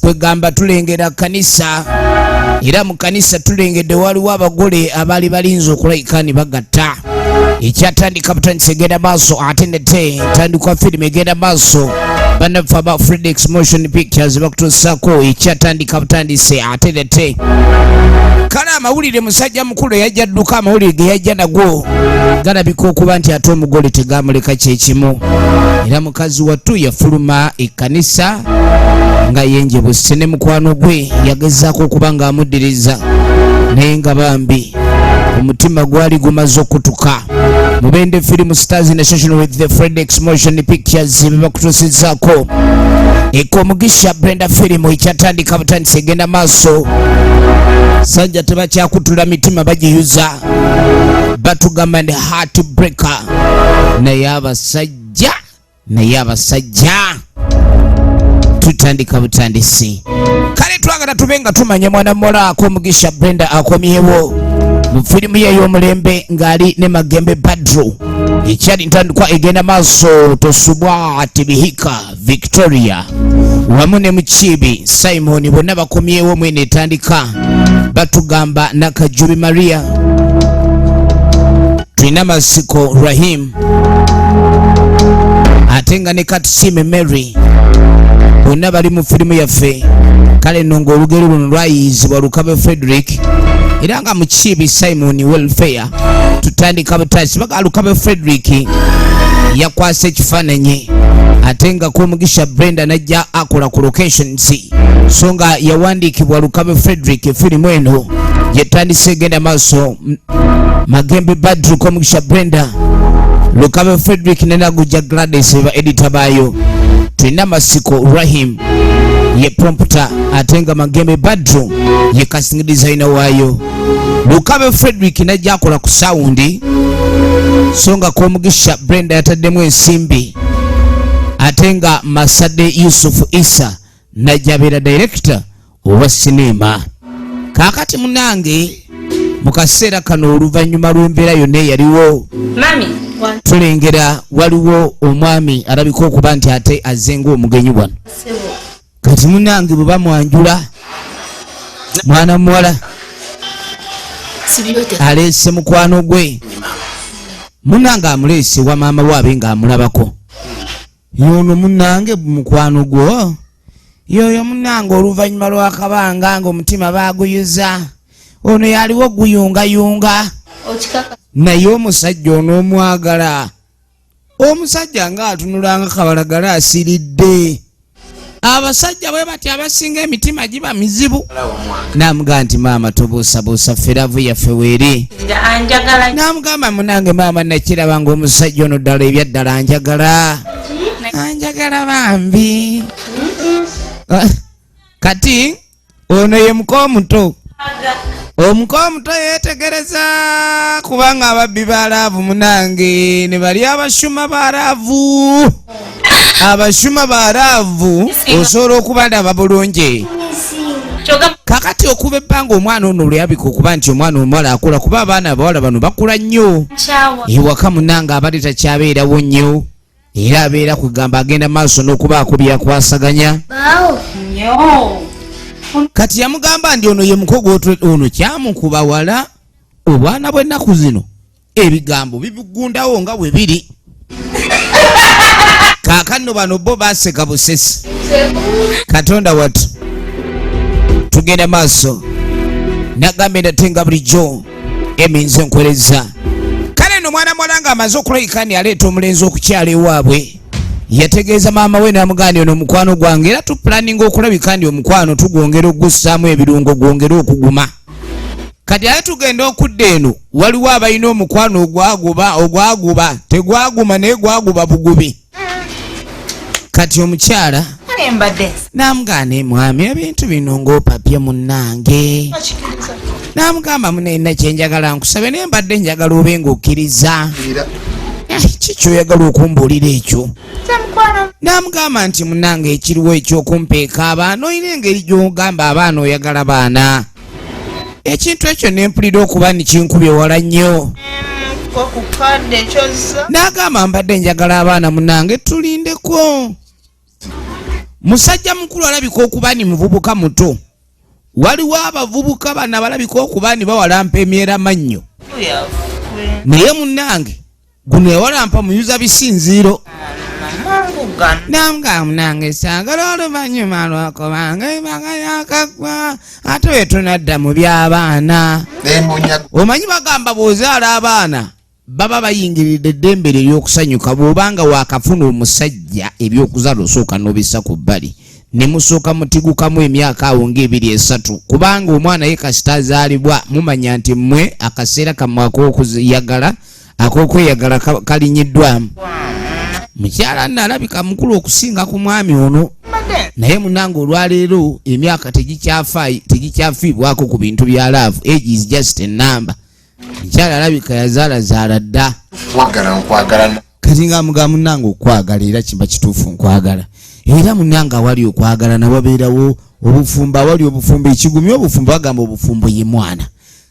kwegamba tulengera kanisa era mu kanisa tulengedde waliwo abagole abaali balinza okulayika ne bagatta ekyatandika butandisa egenda maaso ate nate tandikwa firimu egenda maaso banaffe aba fredix motion pictures bakutuusaako ekyatandika butandise ate nate kale amawulire musajja mukulu eyajja dduka amawulire ge yajja nago galabika okuba nti ate omugole tegamuleka kyekimu era mukazi wattu yafuluma ekkanisa nga yenjebuse ne mukwano gwe yagezaako okuba ng'amuddiriza naye nga bambi omutima gwali gumaze okutuka mubende film stars in association with the fredex motion pictures bebakutusizaako ekomugisha brenda film ekyatandika butandisi egenda maaso sajja tebakyakutula mitima bagiyuza batugamba ne heart breaker naye abasajja abasajja naye abasajja tutandika butandisi kale twagala tube nga tumanya mwana mola akomugisha brenda akomyewo mu firimu ye ey'omulembe ng'ali ne magembe badru ekyali ntandikwa egenda maaso tosubwa tibihika victoria wamu ne mukiibi simoni bonna bakomyewo mwene etandika batugamba nakajubi maria tulina masiko rahim ate nga ne katusime mary bonna bali mu firimu yaffe kale nno ng'olugero luno lwayiiyizibwa lukabe frederick era nga mukiibi simoni welfare tutandika butasi bagalukabe frederick yakwasa ekifaananyi ate nga kwomugisha brenda najja akola ku locations so nga yawandiikibwa lukabe frederick firimu eno gyetandise egenda maaso magembe badru kwomugisha brenda lukabe frederick nenaguja gladys eba edita baayo tulina masiko rahim ye prompter ate nga magembe badru ye casting designer waayo mukabe frederick najja akola ku sawundi so nga komugisha brenda yataddemu ensimbi ate nga masade yusufu isa najja abeera direkita owa sineema kaakati munange mu kaseera kano oluvannyuma lw'embeera yonna eyaliwo tulengera waliwo omwami alabika okuba nti ate azze ngaomugenyi wano kati munange bwe bamwanjula mwana muwala aleese mukwano gwe munange amuleese wa maama waabe ng'amulabako yono munange mukwano gwo yoyo munange oluvannyuma lw'akabanga ng'omutima baaguyuza ono yaliwo guyungayunga naye omusajja onoomwagala omusajja nga atunulanga kabalagala asiridde abasajja bwe bati abasinga emitima giba mizibu namugaa nti maama tobuusabuusa feravu yaffe weeri namugamba munange maama nakiraba nga omusajja ono ddala ebyaddala anjagala anjagala bambi kati ono ye muka omuto omuka omuto yetegereza kubanga ababbi ba laavu munange ne bali abashuma ba laavu abashuma ba laavu osobola okubalaba bulungi kakati okuba ebbanga omwana ono oluyabika okuba nti omwana omuwala akula kuba abaana abawala bano bakula nnyo ewaka munange abali takyabeerawo nnyo era abeera kwegamba agenda maaso n'okubaako byakwasaganya kati yamugamba ndi ono ye mukogo ono kyamukuba wala obwana bw'ennaku zino ebigambo bibigundawo nga bwe biri kakanno bano bo baseka busesi katonda watu tugenda maaso nagambye ndate nga bulijjo eminze nkweleza kale no mwana mwala nga amaze okulabika ni aleeta omulenzi okukyala ewaabwe yategeeza maama we namugaani ono omukwano gwange era tupulaninga okulabika ndi omukwano tugwongera okugussaamu ebirungo gwongere okuguma kati aye tugenda okudda eno waliwo abalina omukwano ogwaguba ogwaguba tegwaguma naye gwaguba bugubi kati omukyala namugane mwami ebintu bino ngaopapye munange namugamba munena kyenjagala nkusabe naye mbadde njagala obe ngaokkiriza eh, kikyoyagala okumbuulira ekyo namugamba nti munange ekiriwo ekyokumpeeka abaana olina engeri gyogamba abaana oyagala baana ekintu ekyo nempulira okuba nikinkubye wala nnyo nagamba mbadde njagala abaana munange tulindeko musajja mukulu alabika okuba ni muvubuka muto waliwo abavubuka bana balabika okuba ni bawalampa emyera mannyo naye munange guno yawalampa muyuza bisinziiro nanga munange sagala oluvanyuma lwakubanga ebanga yakagwa ate wetunadda mu byabaana omanyi bagamba bwozaala abaana baba bayingiridde eddembe lyo ery'okusanyuka bw'obanga waakafuna omusajja eby'okuzala osooka n'obissa ku bbali ne musooka mutigukamu emyaka awo ng'ebiri esatu kubanga omwana ye kasita azaalibwa mumanya nti mmwe akaseera kamwe ak'okuyagala ak'okweyagala kalinyiddwamu mukyala nno alabika mukulu okusinga ku mwami ono naye munange olwaleero emyaka tegikyafiibwako ku bintu bya laavu age is just a number mukyala alabika yazaalazaala dda kati nga muga munange okwagala era kimba kituufu nkwagala era munange awali okwagala nawabeerawo obufumbo awali obufumbo ekigumya obufumbo bagamba obufumbo ye mwana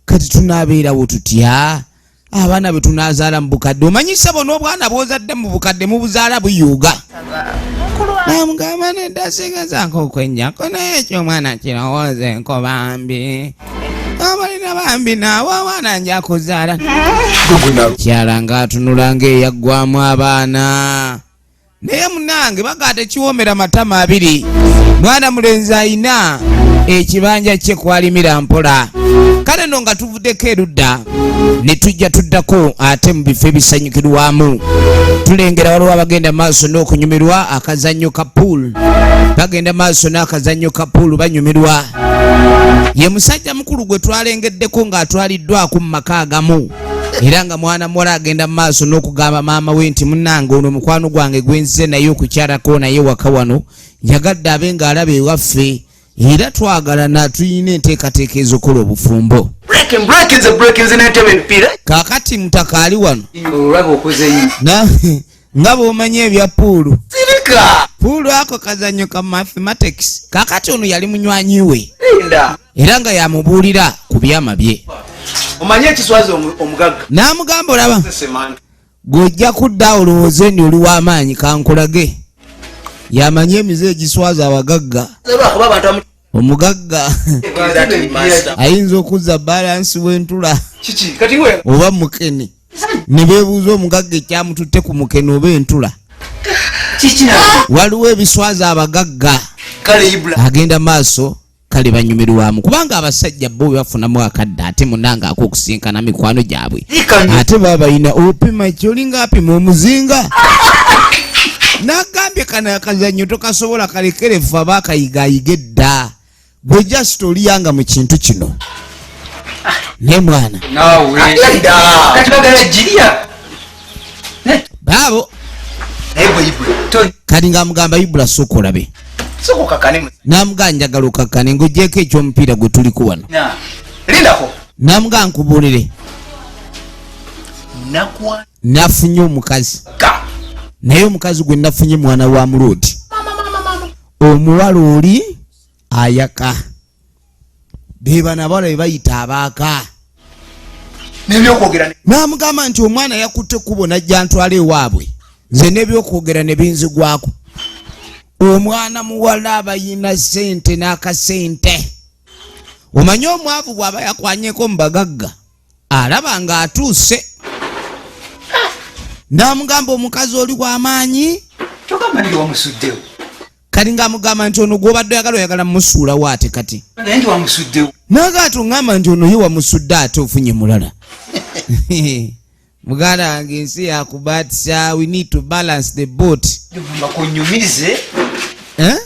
kati tunabeerawo tutya abaana bwe tunazaala mu bukadde omanyi ssebo n'obwana bwozadde mu bukadde mubuzaala buyuuga namugamba nedasigezaako okwennyako naye ekyo omwana kirowooza enko bambi abalina bambi naawe abaana nja kuzaala kyala ng'atunula ng'eyaggwamu abaana naye munange bagaa tekiwoomera matama abiri mwana mulenzi ayina ekibanja kye kwalimira mpola kale no nga tuvuddeko erudda ne tujja tuddako ate mu bifo ebisanyukirwamu tulengera waliwo abagenda maaso n'okunyumirwa akazannyo ka pool bagenda maaso n'akazannyo ka pool banyumirwa ye musajja mukulu gwe twalengeddeko ng'atwaliddwako mu maka agamu era nga mwana muwala agenda mu maaso n'okugamba maama we nti munange ono mukwano gwange gwenzize naye okukyalako naye waka wano njagadde abe nga alaba ewaffe era twagalana tulina enteekateeka ezokola obufumbo kakati mutaka ali wano nga bwomanyi ebya puulu puulu ako kazanyo ka mathematics kakati ono yali munywanyi we era nga yamubuulira ku byama bye omanye ekiswaza omugagga n'amugamba olaba gwe ojja kudda olowooze nti oli w'amaanyi kankulage yamanyi emize egiswaza abagagga omugagga ayinza okuzza balansi w'entula oba mukene ne beebuuza omugagga ekyamututte ku mukene oba entula waliwo ebiswaza abagagga agenda maaso kale banyumirwamu kubanga abasajja bo bebafunamu akadde ate munanga akokusinkana mikwano gyabwe ate babalina opima kyolinga apima omuzinga nagambye kana akazanyo tokasobola kalekerefu aba akayigayiga edda gwe just oliyanga mu kintu kino ne mwana baabo kati ng'amugamba ibula sooka olabe namugaa njagala okakkane ng'ogyeko ekyomupiira gwe tuliko wano namugaa nkubuulire nafunye omukazi naye omukazi gwe nafunye mwana wa muloodi omuwala oli ayaka bebana abawala bebayita abaaka namugamba nti omwana yakutte ekkubo najja ntwala ewaabwe nze nebyokwogera nebinzigwako omwana muwala abayina sente n'akasente omanyi omwavu bwaba yakwanyeko mu bagagga alaba nga atuuse namugamba omukazi oli wamaanyi kati ng'amugamba nti ono gw'obadde oyagala oyagala musuula waate kati naga ati ongamba nti ono ye wamusudde ate ofunye mulala muganda wange ensi yakubatisa we need to balance the boat eh?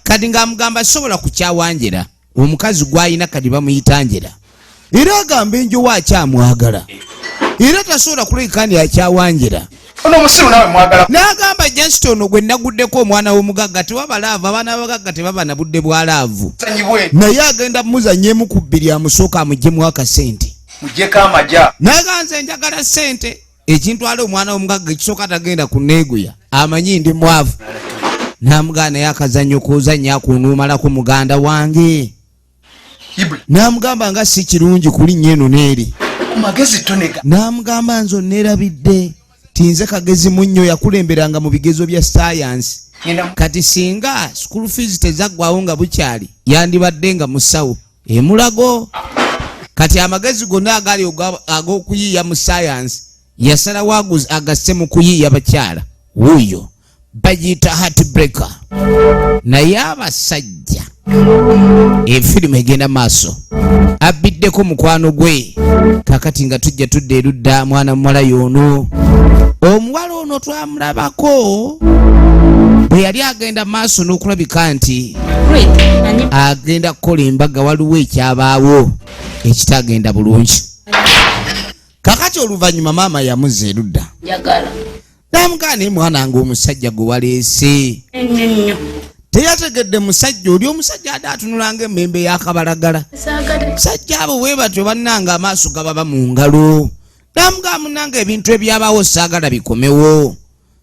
kati ng'amugamba sobola kukyawanjira omukazi gwalina kadi bamuyita njera era agamba enjowo akyamwagala era tasobola kuleka ndi akyawanjira n'agamba jasita ono gwe naguddeko omwana w'omugagga tewaba laavu abaana babagagga tebaba na budde bwa laavu naye agenda mumuzanyemu ku bbiri amusooka amugyemu akasente n'aganze njagala sente ekintwala omwana womugagga ekisooka tagenda kuneeguya amanyi ndi mwavu namugaa naye akazanyo kuzanya akunuumalako muganda wange namugamba nga si kirungi kulinnya eno neeri namugamba nze oneerabidde tinze kagezi munnyo yakulemberanga mu bigezo bya sayansi kati singa school fees tezaggwawo nga bukyali yandibadde nga musawo emulago kati amagezi gonna agali ag'okuyiiya mu sayansi yasalawo agasse mu kuyiiya bakyala wuuyo bagiyita hatbreaker naye abasajja efirimu egenda maaso abbiddeko mukwano gwe kakati nga tujja tudda erudda mwana muwala yoono omuwala ono twa mulabako bwe yali agenda maaso n'okulabika nti agenda kukola embaga waliwo ekyabaawo ekitagenda bulungi kakati oluvannyuma maama yamuza erudda namugaana emwana nga omusajja gwe waleese teyategedde musajja oli omusajja ade atunulanga emembe yakabalagala sajja abo webatyo bannanga amaaso gababa mu ngalo Namugamba munange ebintu ebyabawo saagala bikomewo.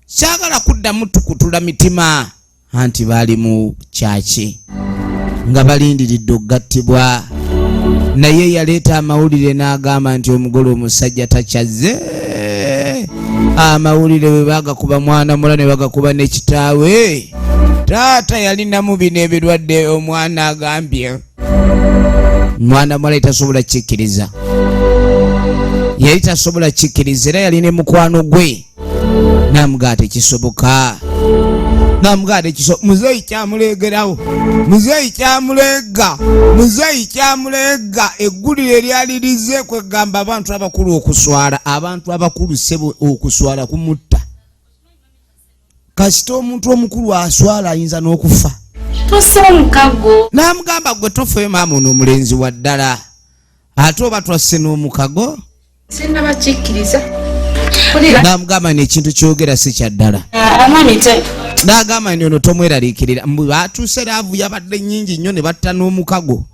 Saagala kuddamu tukutula mitima. Anti baali mu kyaki nga balindiridde okugattibwa. Naye yaleeta amawulire n'agamba nti omugole omusajja takyazze. Amawulire bwe bagakuba mwana mula ne bagakuba ne kitaawe. Taata yalinamu bino ebirwadde omwana agambye. mwana muwala yali tasobola kikkiriza yali tasobola kikkiriza era yali ne mukwano gwe namugaa tekisoboka namugaa tekisoboka muzeeyi kyamuleegerawo muzeeyi kyamuleega muzeeyi kyamuleega eggulire eryali lize kwegamba abantu abakulu okuswala abantu abakulu sebo okuswala kumutta kasita omuntu omukulu aswala ayinza n'okufa n'amugamba gwe tofeyo maama ono omulenzi wa ddala ate oba twasse n'omukago n'amugamba ni ekintu kyogera si kya ddala ah, n'agamba ni ono tomweraliikirira mbu batuuse laavu yabadde nnyingi nnyo ne batta n'omukago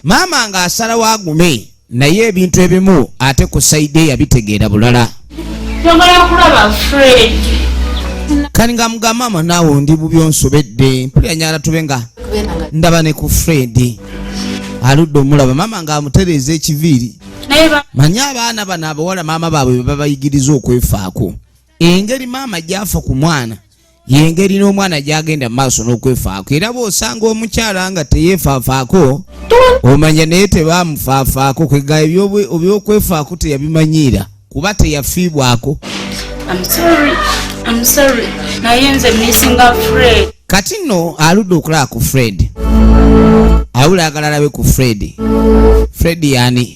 maama ng'asalawo agume naye ebintu ebimu ate ku saidi eyabitegeera bulala kani nga muga maama naawe ndi bubi onsobedde mpulira nyala tube nga ndaba ne ku fred aludde omulaba maama nga amutereeza ekiviiri manye abaana bano abawala maama baabwe bebabayigiriza okwefaako engeri maama gyafa ku mwana yengeri n'omwana gyagenda maaso n'okwefaako era bw'osanga omukyala nga teyeefaafaako omanya naye tebaamufaafaako kwega ebyokwefaako teyabimanyiira kuba teyafiibwako kati nno aludde okulaba ku fred awula agala alabe ku fred fred yani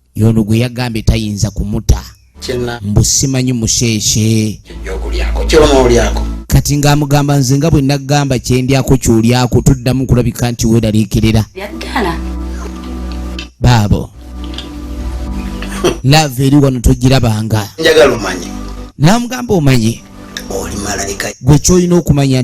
yono gwe yagambye tayinza kumuta mbu simanyi musheeshe kati ng'amugamba nze nga bwe naggamba kyendyako kyolyako tuddamu kulabika nti weeraliikirira baabo laavu eri wano togirabanga njagala omanyi namugamba omanyi gwe kyolina okumanya